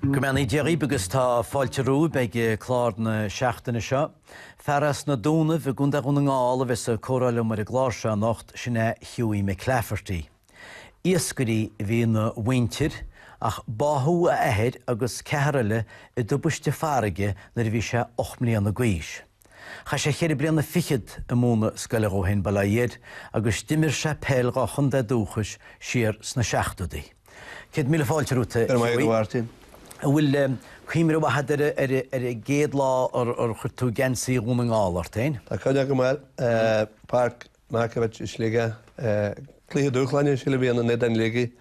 Go mbeannaí Dia dhaoib agus tá fáilte romhaib ag clár na seachtaine seo. Fear as na Dúnaibh i gContae Dhún na nGall a bheas ag comhrá liom ar an gclár seo anocht, sin é Hughie McClafferty. Iascairí a bhí ina mhuintir ach báthadh a athair agus ceathar eile i dtubaiste farraige nuair a bhí sé ocht mbliana d'aois. Chaith sé ceithre bliana fichead ag múineadh scoile dhó fhéin, Baile Átha Fhirdh, agus d'imir sé peil dhá chontae dúchais siar sna seachtóidí. Céad míle fáilte romhat, a Hughie. An bhfuil cuimhne mhaith agat ar an gcéad lá ar chuir tú geansaí Dhún na nGall ort fhéin? Tá cuimhne agam air. Páirc Markiewicz i Sligeach, cluiche dúshláin sílim a bhí ann in éadan Shligigh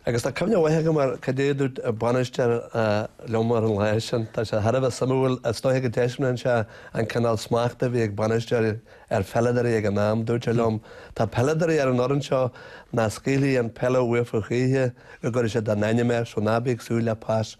agus tá cuimhne mhaith agam ar cad é a dúirt an bainisteoir liom ar an lá sin. Tá sé thar a bheith suimiúil, is dóiche go dtaispeánann seo an cineál smachta a bhí ag bainisteoirí ar pheileadóirí ag an am. Dúirt sé liom, Tá peileadóirí ar an fhoireann seo nach scaoilfidh an peil uafa choíche, go gcuirfidh siad a n-ainm air, so ná bí ag súil le pas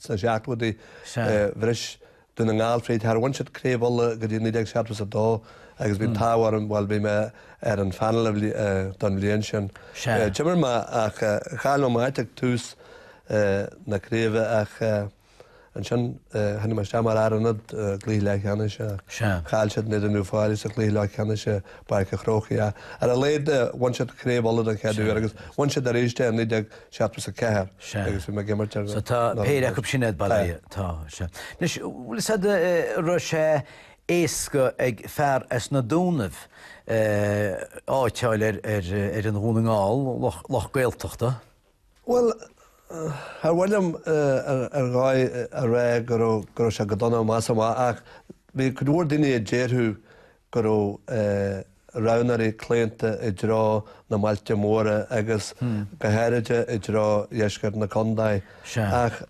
Sna seachtóidí, bhris Dún na nGall fríd. Char bhain siad craobh Uladh go dtí 1972 agus bhí an t-ádh orm, bhuel, bhí mé ar an phainéal don bhliain sin. D'imir mé ach chaill mé mo áit ag tús na craoibhe ach ansin tháinig mé isteach mar fhear ionaid i gcluiche leathcheannais ach chaill siad in éadan Uíbh Fhailí sa chluiche leathcheannais i bPáirc a' Chrócaigh ach ar a laghad bhain siad craobh Uladh don chéad uair agus bhain siad arís é in Seachtó agus a ceathair agus bhí mé ag imirt ar So tá péire acu sin agat bailithe. Tá. Sea. Anois, bhfuil a fhios agat an raibh sé éasca ag fear as na Dúnaibh áit a fháil ar fhoireann Dhún na nGall, lucht Gaeltachta? Bhuel, char mhaith liom ar dhóigh a rá go raibh sé go dona amach is amach ach bhí cuid mhór daoine a déarfadh go raibh roghnóirí claonta i dtreo na mbailte móra agus go háiride i dtreo dheisceart na condae. Ach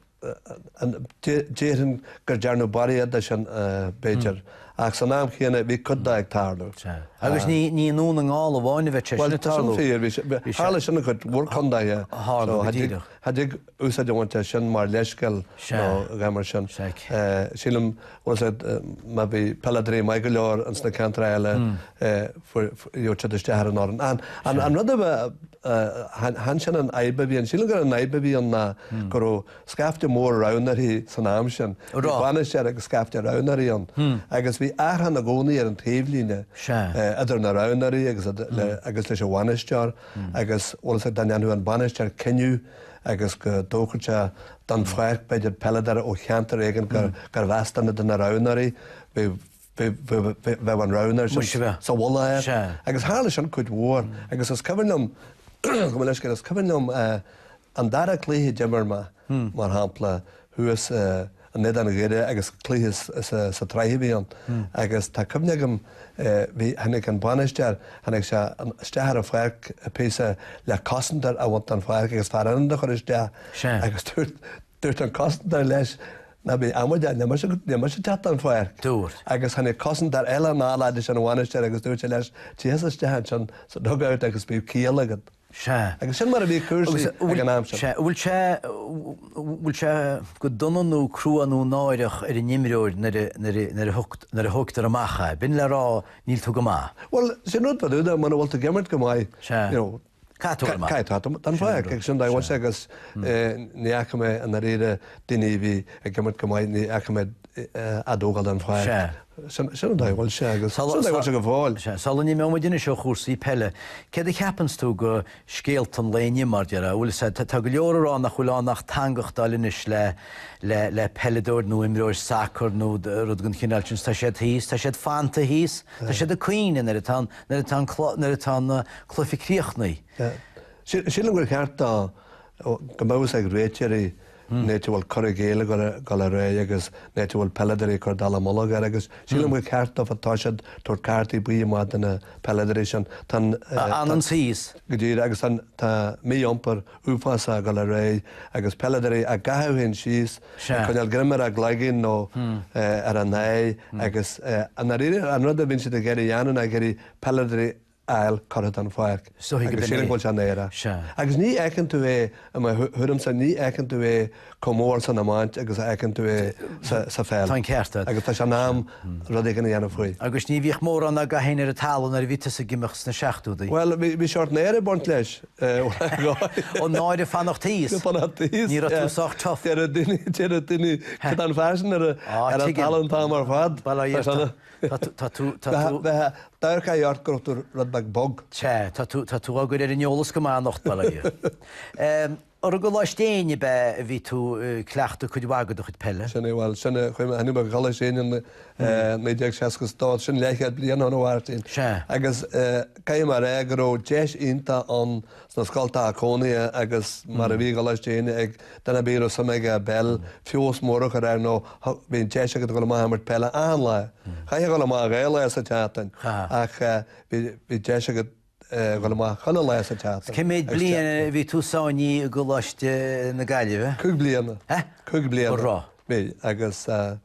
déarfainn gur dearnadh barraíocht de sin, b'fhéidir, ach san am chéanna bhí cuid de ag tarlú. Agus ní i nDún na nGall amháin a bheadh sé sin ag tarlú. Bhuel, tá sin fíor. Tharla sin i gcuid mhór condaethe. Tharla, go díreach. úsáid a bhaint as sin mar leithscéal nó a dhath mar sin. Sílim, bhfuil a fhios agat, má bhí peileadóirí maith go leor ins na ceantracha eile gheobhadh siad isteach ar an fhoireann. An, an rud a bheith, chan sin an fhadhb a bhí ann. Sílim gur an fhadhb a bhí ann ná go raibh scaifte mór roghnóirí san am sin. Bhí bainisteoir agus scaifte roghnóirí ann agus bhí achrann i gcónaí ar an taobhlíne idir na roghnóirí agus agus leis an bhainisteoir agus, bhfuil a fhios agat, dá ndéanfadh an bainisteoir cinneadh, agus dá dtógfadh sé den pháirc, b'fhéidir, peileadóir ó cheantar éigin gurb as duine de na roghnóirí, bheadh an roghnóir sin sa mhullach air. Agus tharla sin cuid mhór. Agus is cuimhin liom, gabh mo leithscéal, is cuimhin liom an dara cluiche a d'imir mé, mar shampla, thuas i, in éadan Dhoire agus cluiche sa tsraith a bhí ann agus tá cuimhne agam bhí, tháinig an bainisteoir, tháinig sé isteach ar an pháirc píosa le cosantóir a bhaint den pháirc agus fear ionaid a chur isteach agus dúirt, dúirt an cosantóir leis ná bí amaideach, níl mise, níl mise teacht den pháirc. Dúirt. Agus tháinig cosantóir eile anall fhad leis an bhainisteoir agus dúirt sé leis, téigh isteach ansin sa dugout agus bíodh ciall agat. Sea. Agus sin mar a bhí cúrsaí ag an am sin. Sea. Bhfuil sé, bhfuil sé go dona nó crua nó náireach ar an imreoir nuair a, nuair a, nuair a, nuair a thógtar amach é? B'in le rá, níl tú go maith. Bhuel, sin rud nádúrtha, muna bhfuil tú ag imirt go maith, you know, caithfidh tú a bheith maith. Caithfidh tú a bheith, den pháirc, agus sin an dóigh a bhfuil sé agus ní fhaca mé i ndáiríre daoine a bhí ag imirt go maith, ní fhaca mé, á dtógáil den pháirc. Sea. Sin an dóigh a bhfuil sé agus sin an dóigh a bhfuil sé go fóill. Sea. Sula n-imeoidh muid anois ó chúrsaí peile, céard a cheapanns tú go, scéalta an lae inniu, mar deir, a' bhfuil, sea, tá, tá go leor a' rá nach bhfuil ann ach teangachtáil anois le, le, le peileadóir nó imreoir sacar nó rud den chineál sin 's tá siad thíos, tá siad fanta thíos, tá siad ag caoineadh nuair atá an, nuair atá an, nuair atá na cluichí críochnaithe. Sea. Sílim gur cheart dó, go mbeadh a fhios ag réiteoirí, an áit a bhfuil cur i gcéill ag dul ar aghaidh agus an áit a bhfuil peileadóirí ag cur dallamullóg air agus sílim gur cheart dóibh toiseacht ag tabhairt cártaí buí amach do na peileadóirí sin. A fhananns thíos. Go díreach agus tá mí-iompar uafásach ag dul ar aghaidh agus peileadóirí á gcaitheamh féin síos, ag coinneáil greim ar a gcloigeann nó ar a n-aghaidh agus i ndáiríre an rud a bhíonn siad ag iarraidh a dhéanamh ná ag iarraidh peileadóirí fháil curtha den pháirc agus sílim go bhfuil sé ina náire! Agus ní fheiceann tú é, i mo thuairimse, ní fheiceann tú é chomh mór san iomáint agus a fheiceann tú é sa pheil. Tá an ceart agat. Agus tá sé in am rud éigin a dhéanamh faoi. Agus ní bhíodh mórán á gcaitheamh féin ar an talamh nuair a bhí tusa ag imirt sna seachtódaí. Bhuel, bhí sórt náire ag baint leis, uaireanta. Ó náire fanacht thíos. Náire fanacht thíos. Ní raibh tú sách tough. Deireadh daoine, deireadh daoine, cad tá an fear sin ar an talamh an t-am ar fad? Bhuel, Tá tú, tá tú. Bheadh dearcadh ort go raibh tú rud beag bog. Sea, tá tú, tá tú dár gcur ar an eolas go maith anocht, bail ó Dhia ort. I gColáiste Éinne ab ea a bhí tú ag cleachtadh cuid mhaith de do chuid peile? Sin é, bhuel, sin é, chuaigh mé, tháinig mé go Coláiste Éinne i 1962, sin leathchéad bliain ó shin a Mháirtín. Sea. Agus caithfidh mé a rá go raibh deis iontach ann sna scoltacha cónaithe agus mar a bhí i gColáiste Éinne ag duine ar bith a raibh suim aige i bpeil, feabhas mór a chur air nó bhí an deis agat a dhul amach a imirt peile achan lá. Chaithfeá a dhul amach dhá lá sa tseachtain ach bhí deis agat a dhul amach chuile lá sa tseachtain. Cé mhéad bliain a bhí tú sáinnithe i gColáiste na Gaillimhe? Cúig bliana. Hea? Cúig bliana. An raibh? Bhí agus.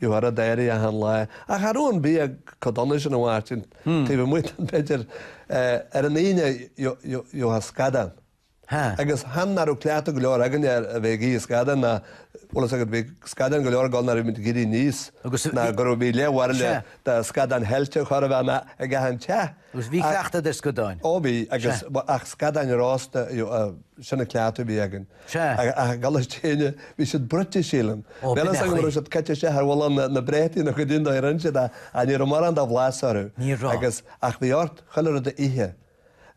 Ní bhfuair a deiridh achan lá. Ach an raibh an bia chomh dona sin, a Mháirtín, taobh amuigh de b'fhéidir, ar an Aoine gheobhthá scadán. Agus chan nach raibh cleachtadh go leor againne ar a bheith ag ithe scadán ná, bhfuil fhios agat, bhí scadáin go leor ag gabháil nuair a bhí muid ag éirí aníos nó go raibh, bhí leathbhairille de scadáin shaillte chóir a bheith ann ag achan teach. Agus bhí cleachtadh ar scadáin. Ó bhí, agus, ach scadáin rósta, a, sin an cleachtadh a bhí againn. Sea. Ach i gColáiste Éinne, bhí siad bruite, sílim. Ó, b'in é an chaoi. Níl a fhios agam an raibh siad caite isteach ar mhullach na bpréataí nó caidé an dóigh a rinne siad é, ach ní raibh mórán de bhlas orthu. Ní raibh. Agus, ach bhí ort chuile rud a ithe.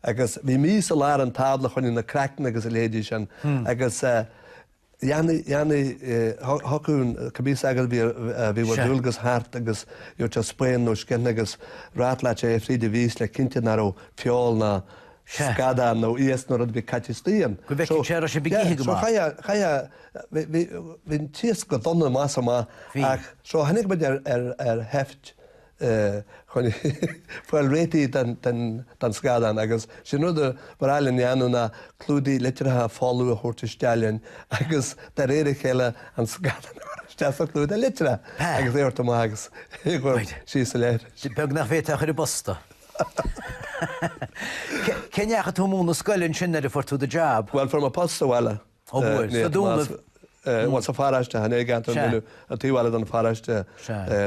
Agus bhí mias i lár an tábla, fá choinne na gcraicne agus a leithéidí sin. Agus eh dhéanfaidh, dhéanfaidh eh, thiocfadh an, cibé sagart a bhí, eh, bhí ar Sea. dualgas thart agus gheobhadh sé spoon nó scian agus rattleálfadh sé é fríd an mhias le cinntiú nach raibh feoil ná, Sea. scadán nó iasc nó rud ar bith caite istoigh ann. Go bhfeicfeadh sé an raibh sibh ag ithe go maith. yeah, so chaith, chaith, bhí an t-iasc go dona amach is amach so tháinig muid ar, ar, ar sheift chun fáil réitithe don, don, don scadán agus sin rud a ba ghnách linn a dhéanamh ná clúdaigh litreacha folmha a thabhairt isteach linn agus de réir a chéile an scadán a chur isteach sa chlúdach litreach agus é a thabhairt amach agus é a chur síos sa leithreas. Beag nach bhféadfá é a chur i bposta. Cé ndeachaigh tú ag múineadh scoile ansin nuair a fuair tú do jab? Bhuel, fuair mé post sa bhaile. Ó bhuel, sna Dúnaibh? Bhuel, sa pharáiste, chan i gceantar na nDúnaibh, an taobh eile den pharáiste,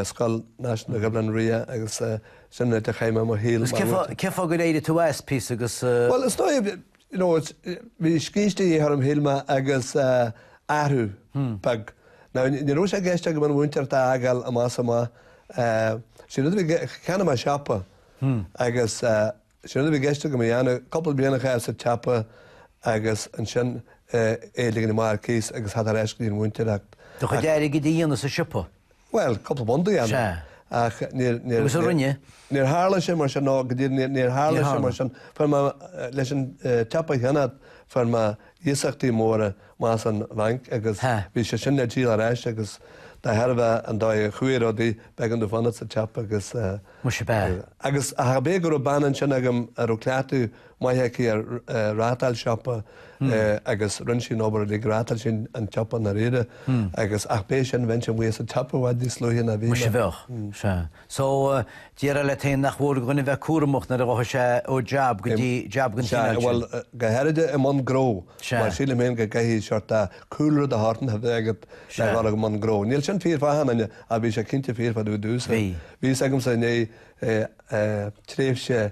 Scoil Náisiúnta Dhuibhleann Riach agus sin an áit a chaith mé mo shaol. Agus cén fáth gur éirigh tú as, píosa, agus...? Bhuel, is dóigh, you know it's bhí scíste de dhíth orm shíl mé agus athrú beag now ní raibh sé i gceist agam an mhúinteoireacht a fhágáil amach is amach sin rud a bhí cheannaigh mé siopa agus sin rud a bhí i gceist agam a dhéanamh cúpla bliain a chaitheamh sa tsiopa agus ansin é a ligean amach ar cíos agus theacht ar ais go dtí an mhúinteoireacht. Do chuid airgid a dhéanamh sa siopa? Bhuel, cúpla punt a dhéanamh. Sea. Ach níor, níor. Agus a rinne? Níor tharla sé mar sin, no, go díreach níor, níor tharla sé mar sin. Fuair mé, leis an tsiopa a cheannacht, fuair mé iasachtaí móra amach as an bhanc agus bhí sé sin le díol ar ais agus de thairbhe an dóigh a chuaigh rudaí, b'éigean domh fanacht sa tsiopa agus. Muise b'ea. Agus, ach ab é go raibh bean ansin agam a raibh cleachtadh maith aici ar reáchtáil siopa agus rinne sí an obair uilig, reáchtáil sí an tsiopa i ndáiríre agus, ach ab é sin, bheinnse amuigh as an tsiopa i bhfad níos luaithe ná bhí mé. Muise bheadh. Sea. So, déarfá leat fhéin nach mór do dhuine bheith cúramach nuair a ghabhfadh sé ó jab go dtí jab den chineál sin. Sea, bhuel, go háirid i mbun gnó mar sílim fhéin go gcaithfidh seort de chúlra de shórt a bheith agat le dhul i mbun gnó. Níl sin fíor fá achan duine ach bhí sé cinnte fíor fá dtaobh domhsa. Bhí. Bhí fhios agamsa i ndiaidh tréimhse,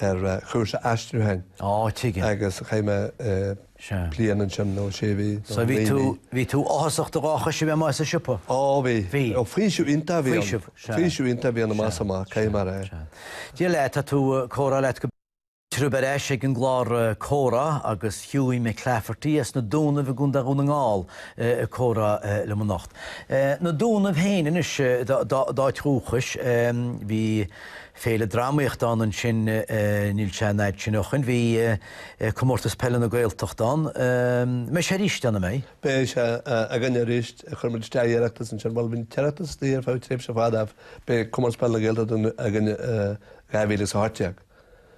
ar chúrsa aistriúcháin. Ó, tuigim. Agus chaith mé bliain ansin, nó sé mhí, nó naoi mí. So bhí tú áthasach do dhá chois a bheith amuigh as an siopa? Ó, bhí. Bhí. Ó, faoiseamh iontach a bhí ann. Faoiseamh, sea. Faoiseamh iontach a bhí ann amach is amach, caithfidh mé a rá. Sea. Dia leat, tá tú, comhrá leat go. Fáilte romhaibh ar ais ag an gclár Comhrá agus Hughie McClafferty as na Dúnaibh i gContae Dhún na nGall ag comhrá liom anocht. Na Dúnaibh féin anois d'áit dhúchais. Bhí. Féile dramaíochta ann ansin, níl sé an fhaid sin ó shoin, bhí Comórtas Peile na Gaeltacht ann, mbeidh sé arís ann, an mbeidh? Beidh sé againne arís, chuir muid isteach iarratas ansin, bhuel bhí an t-iarratas istigh ar feadh tréimhse fada ach beidh Comórtas Peile na Gaeltacht againne i 2018.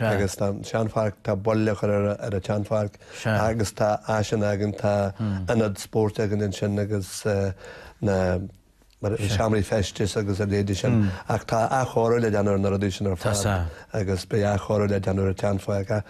agus tá an seanpháirc, tá bail á chur ar an tseanpháirc agus tá áiseanna againn, tá ionad spóirt againn ansin agus na seomraí feistis agus a leithéidí sin. Ach tá athchóiriú le déanamh ar na rudaí sin ar fad agus beidh athchóiriú le déanamh ar an tseanpháirc.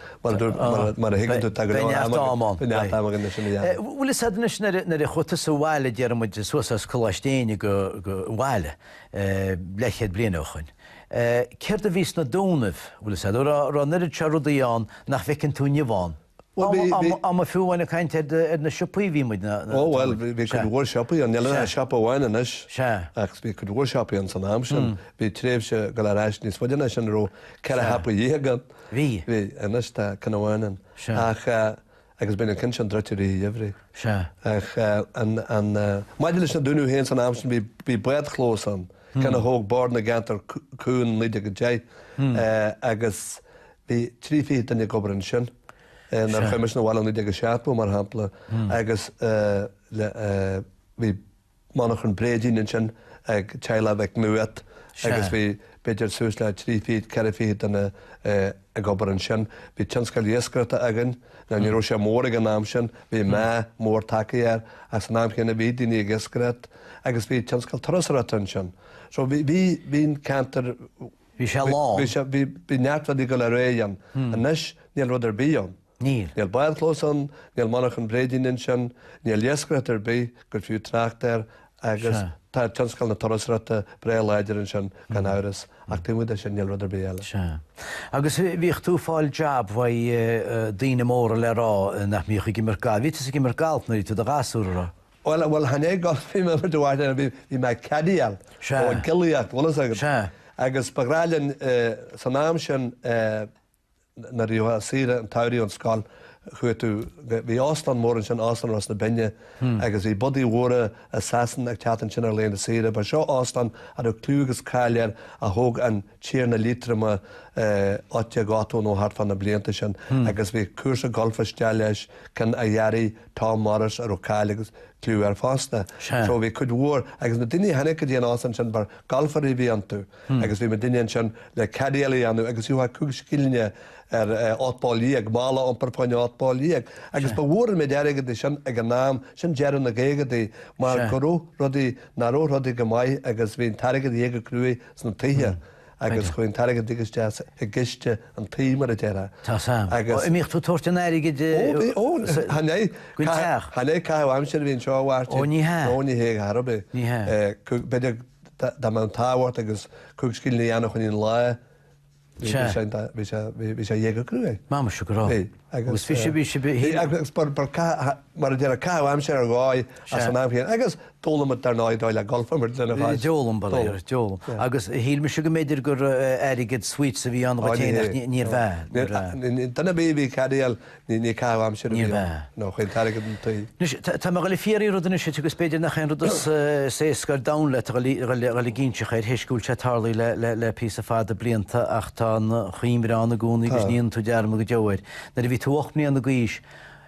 Mar a thuigeann tú, tá go leor ama againn. Beidh neart ama agam againn leis sin a dhéanamh. Bhuel, is ait anois nuair a chuaigh tusa abhaile, déarfaidh muid, suas as Coláiste Éinne ag dul abhaile, leathchéad bliain ó shoin, Céard a bhí sna Dúnaibh? Bhuel, is ea, raibh an oiread seo rudaí ann nach bhfeiceann tú inniu ann. Am a fiú amháin ag caint ar na siopaí a bhí muid, nach raibh? Ó bhuel, bhí cuid mhór siopaí ann, níl ach siopa amháin anois, ach bhí cuid mhór siopaí ann san am sin. Bhí tréimhse, dul ar ais níos faide ná sin, a raibh ceithre shiopa dhéag ann. Bhí. Bhí, anois tá ceann amháin ann. Ach. Agus bíonn an ceann sin druidte i rith an gheimhridh. Ach maidir leis na Dúnaibh féin, san am sin bhí bádchlós ann, ceann a thóg Bord na gCeantar Cúng in 1910, agus bhí trí fichid duine ag obair ansin, nuair a chuaigh mise chun an bhaile in 1970 mar shampla, agus bhí monarchan bréidín ansin ag Teaghlach Mhic Nuadhat agus bhí b'fhéidir suas le trí fichid, ceithre fichid duine ag obair ansin. Bhí tionscal iascaireachta againn. Now ní raibh sé mór ag an am sin, bhí meath mór tagtha air ach san am chéanna bhí daoine ag iascaireacht agus bhí tionscal turasóireachta ansin. So bhí, bhí, bhí an ceantar, bhí sé lán, bhí sé, bhí, bhí neart rudaí ag gabháil ar aghaidh ann. Anois níl rud ar bith ann. Níl. Níl bádchlós ann, níl monarchan bréidín ansin, níl iascaireacht ar bith gur fiú trácht air agus tá tionscal na turasóireachta breá láidir ansin, gan amhras, ach taobh amuigh de sin, níl rud ar bith eile. Sea. Agus bhíodh tú ag fáil jab uaidh daoine móra le rá, nach mbíodh, ag imirt gailf. Bhí tusa ag imirt gailf nuair a bhí tú i do ghasúr, a raibh? Bhuel, bhuel, chan é gailf a bhí mé ag imirt i bhfad, bhí mé ag caddyáil, nó ag giollaíocht, bhfuil fhios agat. Sea. Agus ba bhreá linn, san am sin, eh, nuair a bhí tú saoire an tsamhraidh ón scoil chuaigh tú, bhí óstán mór ansin, Óstán Ros na Binne, agus bhí bodaigh mhóra as Sasana ag teacht ansin ar laethanta saoire. Ba seo óstán a raibh cliú agus cáil air a thóg an Tiarna Liatroma ocht déag ochtó nó thart fá na blianta sin agus bhí cúrsa golf istigh leis, ceann a dhearaigh Tom Morris a raibh cáil agus cliú air fosta. So bhí cuid mhór, agus na daoine a tháinig go dtí an óstán sin ba ghalfairí a bhí iontu. agus bhí muidinne ansin le caddyáil a dhéanamh agus gheofá cúig scillinge ar ocht bpoll déag, mála a iompar fá choinne ocht bpoll déag, agus ba mhór an méid airgid é sin ag an am, sin deireadh na gcaogaidí, mar go raibh rudaí, nach raibh rudaí go maith agus bhí an t-airgead a dhíth go cruaidh sna tithe agus chuaigh an t-airgead uilig isteach i gciste an tí, mar a déarfá. Tá fhios agam. Agus. Ó, an mbíodh tú ag tabhairt an airgid. Ó, bhí, ó, chan é. Go teach. Chan é caitheamh aimsire a bhí anseo a Mháirtín. Ó, ní hea. Ó, ní hea, charbh é. Ní hea. Cúig, b'fhéidir, Dá mbeadh an t-ádh ort agus cúig scilling a dhéanamh fá choinne an lae, bhí sé, bhí sé, bhí sé a dhíth go cruaidh. M'amuigh go raibh. Agus bhí sé, bhí sé, bhí sé. Agus ba, ba caith, mar a déarfá, caitheamh aimsire ar dóigh é san am chéanna. Agus d'fhoghlaim muid dar ndóigh an dóigh le golf mar a déarfá. D'fhoghlaim, ba léir, d'fhoghlaim. Agus shíl mise go mb'fhéidir gur airgead sweets a bhí ann dhuit fhéin ach níorbh ea. Duine a bhí, bhí ag caddyáil. Ní ní caitheamh aimsire a bhí ann. Nó chuaigh an t-airgead chun tí. Anois, tá mé a dhul ag fiafraí rud anois dhíot agus b'fhéidir nach é an rud is is éasca ar domhan leat a dhul a dhul a dhul ag inseacht thar éis go bhfuil sé tarlaithe le le le píosa fada blianta ach tá an chuimhne ann i gcónaí agus ní dhéanann tú dearmad go deo air. Nuair a bhí tú ocht mbliana d'aois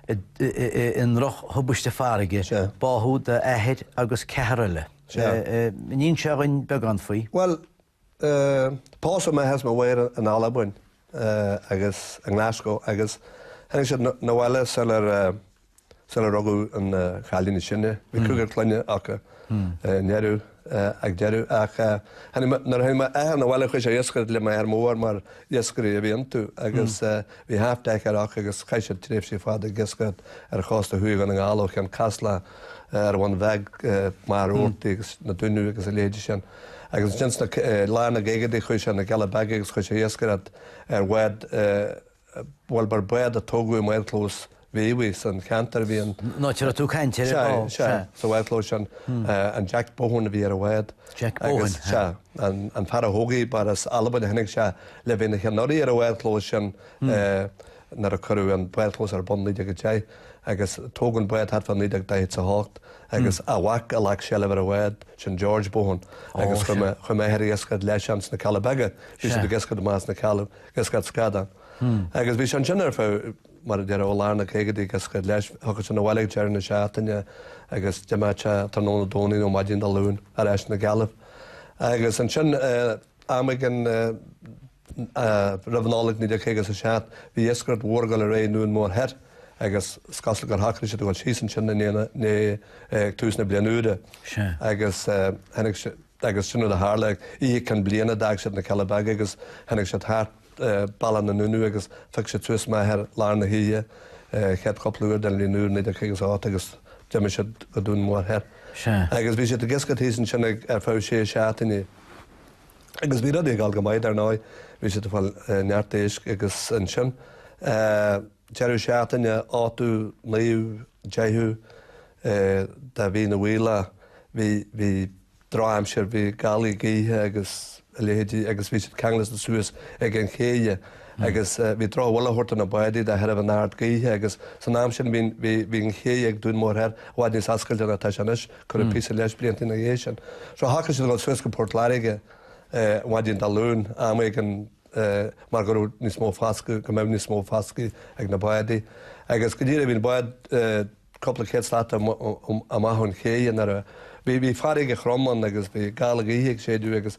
i i i ndrochthubaiste farraige báthadh d'athair agus ceathar eile. An inseofá dhúinn beagán faoi? Bhuel, Pósadh m'athair is mo mháthair in Albain agus i nGlaschú agus tháinig siad na bhaile sula rugadh an cailín is sine. Bhí cúigear clainne acu i ndeireadh ag deireadh ach nuair a tháinig mo athair na bhaile chuaigh sé a dh'iascaireacht le mo athair mór mar iascairí a bhí iontu agus bhí half decker acu agus chaith siad tréimhsí fada ag iascaireacht ar chósta thuaidh Dhún na nGall ó Cheann Caslach, an Bhun Bheag, Machaire Rabhartaigh agus na Dúnaibh agus a leithéidí sin. Agus ins na, lár na gcaogaidí chuaidh sé 'na gCealla Beaga agus chuaidh sé a dh'iascaireacht ar bhád, bhuel bar bád a tógadh i mbádchlós Mhíobhaigh san cheantar a bhí an. An áit a raibh tú ag caint air Sea, fadó, sea. sea, sa bhádchlós sin. An Jack Buchan a bhí ar an bhád. Jack Buchan, Agus sea. sea, an, an fear a thóg í, bar as Albain a tháinig sé le bheith ina cheannaire ar an bhádchlós sin nuair a cuireadh an bádchlós ar bun i 1910 agus tógadh an bád thart fá 1948 agus a mhac a ghlac seilbh ar an bhád sin, George Buchan, agus chuaidh m'athair ag iascaireacht leis ins na Cealla Beaga, bhí siad ag iascaireacht amach as na Cealla, ag iascaireacht scadán. Agus bhí sé ansin ar feadh, mar a déarfá, ó lár na gcaogaidí ag iascaireacht leis, thiocfadh sé 'na bhaile ag deireadh na seachtaine agus d'imeodh sé tráthnóna Domhnaigh nó maidin Dé Luain ar ais 'na gCealla. Agus ansin, am éigin. Roimh Nollaig 1957, bhí iascaireacht mhór ag dul ar aghaidh i nDún Mór Thoir agus is cosúil gur shocraigh siad a dhul síos ansin ag tús na bliana úire. Agus sin rud a tharla. Oíche Cinn Bliana, d'fhág siad na Cealla Beaga agus tháinig siad thart bealach na nDúnaibh agus phioc siad suas m'athair i lár na hoíche, chéad chúpla uair den bhliain úr 1958 agus d'imigh siad go Dún Mór Thoir. Agus bhí siad ag iascaireacht thíos ansin ar feadh sé seachtaine. Agus bhí rudaí ag dul go maith, dar ndóigh, bhí siad ag fáil neart éisc agus ansin, deireadh seachtaine, ochtú, naoú, deichiú de mhí na bhFaoilleach, bhí, bhí drochaimsir, bhí gálaí gaoithe agus a leithéidí agus bhí siad ceangailte suas ag an chéidhe agus bhí drochbhuille á thabhairt do na bádaí de thairbhe an aird gaoithe agus san am sin bhí, bhí, bhí an chéidhe ag Dún Mór Thoir i bhfad níos oscailte ná atá sé anois. Cuireadh píosa leis blianta ina dhiaidh sin. So shocraigh siad a dhul suas go Port Láirge maidin Dé Luain am éigin mar go raibh níos mó fascadh, go mbeadh níos mó fascadh ag na bádaí. Agus go díreach bhí an bád cúpla céad slat amach ón chéidhe nuair a, bhí, bhí farraige throm ann agus bhí gála gaoithe ag séideadh agus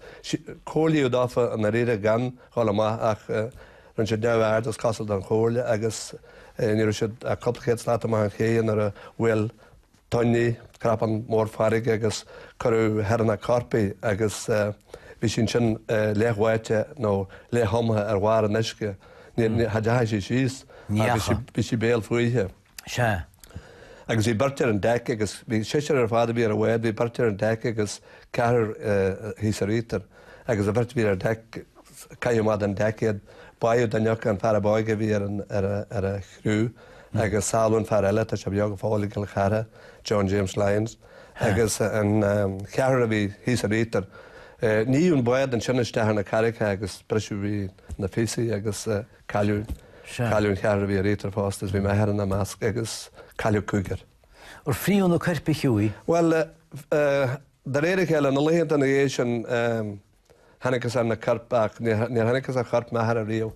comhairlíodh dófa i ndáiríre gan dhul amach ach rinne siad neamh-aird, is cosúil, den chomhairle agus ní raibh siad ach cúpla céad slat amach ón chéidhe nuair a bhuail tonn í, cnapán mór farraige agus cuireadh thar na corp í agus bhí sí ansin leath-bháite nó leath-thumtha ar bharr an uisce. Ní dheachaigh sí síos agus bhí sí béal fúithe. Sea. Agus bhí beirt ar an deic agus bhí seisear ar fad a bhí ar an bhád, bhí beirt ar an deic agus ceathrar thíos ar íochtar. Agus an bheirt a bhí ar deic, caitheadh amach den deic iad. Báitheadh duine acu, an fear ab óige a bhí ar an chriú. agus sábháladh an fear eile, tá sé beo go fóill i gCill Chartha, John James Lyons, agus an ceathrar a bhí thíos ar íochtar. Níodh an bád ansin isteach ar na carraigeacha agus briseadh í ina píosaí agus cailleadh, cailleadh an ceathrar a bhí ar íochtar fosta is bhí m'athair ina measc agus cailleadh cúigear. Ar fríothadh na coirp choíche? Bhuel, de réir a chéile, na laethanta ina dhiaidh sin, thángthas ar na coirp ach níor thángthas ar chorp m'athara riamh.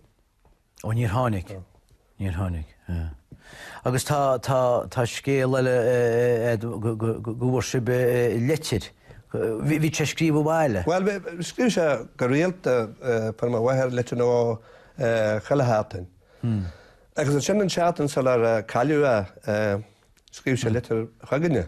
Ó, níor tháinig. Níor tháinig. Agus tá, tá, tá scéal eile go bhfuair sibh litir, bhí sé ag scríobh abhaile. Bhuel, scríobh sé go rialta, fuair mo mháthair litir nó dhó chuile sheachtain. Agus ansin an tseachtain sular cailleadh é, scríobh sé litir chugainne.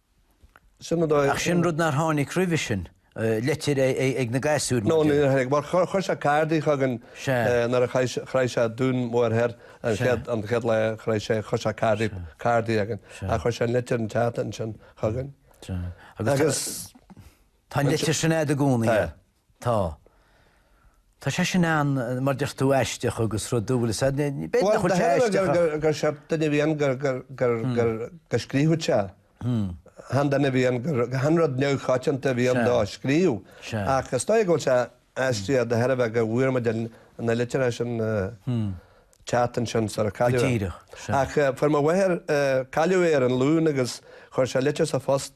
Ach sin rud nár tháinig roimhe sin, litir ag na gasúir, No, mar chuir sé cárdaí chugainn nuair a shroich sé Dún Mór Thoir an chéad lá a shroich sé, chuir sé cárdaí againn. Ach chuir sé litir an tseachtain sin chugainn. Tá an litir sin agat i gcónaí. Tá. Tá. Tá sé sin ann, mar a deir tú, aisteach agus rud dúbailte. Sea, b'fhéidir nach bhfuil sé aisteach ach. Bhuel, dar liom gur seort duine a bhí ann gur. gur. gur. go scríobhadh sé. Chan duine a bhí ann gur. chan rud neamhchoitianta a bhí ann dó a scríobh. Sea. Ach is dóigh go bhfuil sé aisteach de thairbhe go bhfuair muid na litreacha sin an tseachtain sin sara cailleadh é. Go díreach. Sea. Ach fuair mo mháthair, cailleadh é ar an Luan agus chuir sé litir sa phost,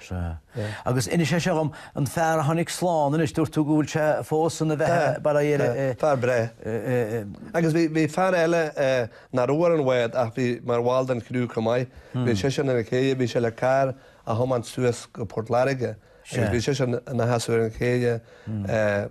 Sea. Agus inis é seo dhom, an fear a tháinig slán anois, dúirt tú go bhfuil sé fós ina bheatha? Tá. Bail air. Tá. Fear breá. Agus bhí fear eile nach raibh ar an bhád ach bhí mar bhall den chriú chomh maith, bhí seisean ar an chéidhe, bhí sé le carr a thiomáint suas go Port Láirge agus bhí seisean ina sheasamh ar an chéidhe.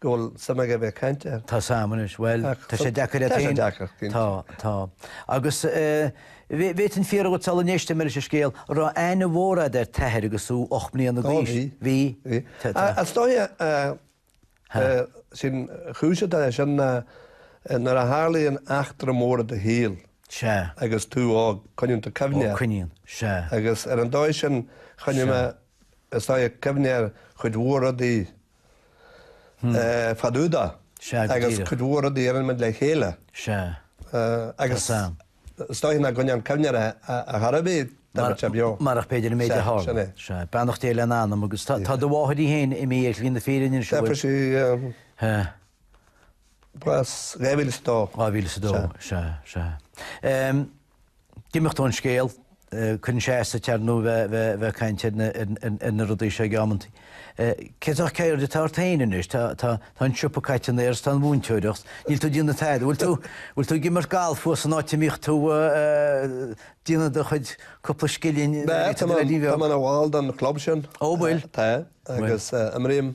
go bhfuil suim aige a bheith ag caint air. Tá suim anois, bhuel, tá sé deacair ann féin. Tá sé deacair, cinnte. Tá, tá. Agus eh, bhí an fear agat sula n-éist mé leis an scéal, an raibh aithne mhór agat ar t'athair agus thú ocht mbliana d'aois. Ó, bhí. Bhí. Bhí. Is dóigh eh, eh, sé an chúis atá leis sin ná eh, nuair a tharlaíonn eachtra mór i do shaol, Sea. agus tú óg, coinníonn tú cuimhne air. Ó, coinníonn. Sea. Agus ar an dóigh sin, choinnigh mé, is dóigh, cuimhne ar chuid mhór rudaí, fadúda agus cuid mhór rudaí a rinne muid le chéile. Agus is dóigh nach gcoinneoinn cuimhne air ar chor ar bith dá mbeadh sé beo. Marach b'fhéidir an méid a tharla. Beannacht Dé lena anam agus tá do mháthair í féin imithe ar shlí na fírinne anseo. Fuair sí bás 2002. 2002, sea, sea. d'imeacht ón scéal. Cuireann sé as duit, ar ndóigh, a bheith ag caint ar na rudaí seo ag amantaí. Cén sórt ceird atá ort féin anois? Tá an siopa caite in aer is tá an mhúinteoireacht, níl tú ag déanamh tada. Bhfuil tú ag imirt galf thuas an áit a mbíodh tú ag déanamh do chuid cúpla scilling? Tá mé ina bhall den chlub sin. Ó bhfuil? Tá, agus imrím.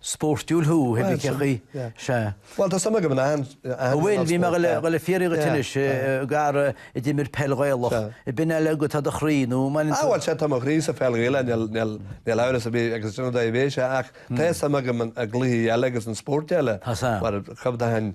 spóirtiúil thú, a Mhiceachaí. Sea. Bhuel, tá suim agam in achan spórt, dar liom. Bhuel, bhí mé le fiafraí dhuit anois, gar, a d'imir peil Ghaelach, ab in é agat ar do chroí, nó an mbaineann tú. Á, bhuel, sea, tá mo chroí sa pheil Ghaelach, níl amhras ar bith, agus sin an dóigh a bhí sé, ach tá suim agam i gcluichí eile agus in spóirt eile. Tá suim. Mar, chomh domhain.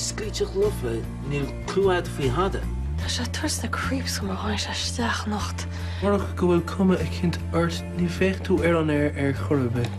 Sclíteach lofa, níl clue a'd faoi thada. Tá sé ag tabhairt na creeps dhom ó tháinig sé isteach anocht. Murach go bhfuil cuma eicínt ort ní bheadh tú ar an aer ar chor ar bith.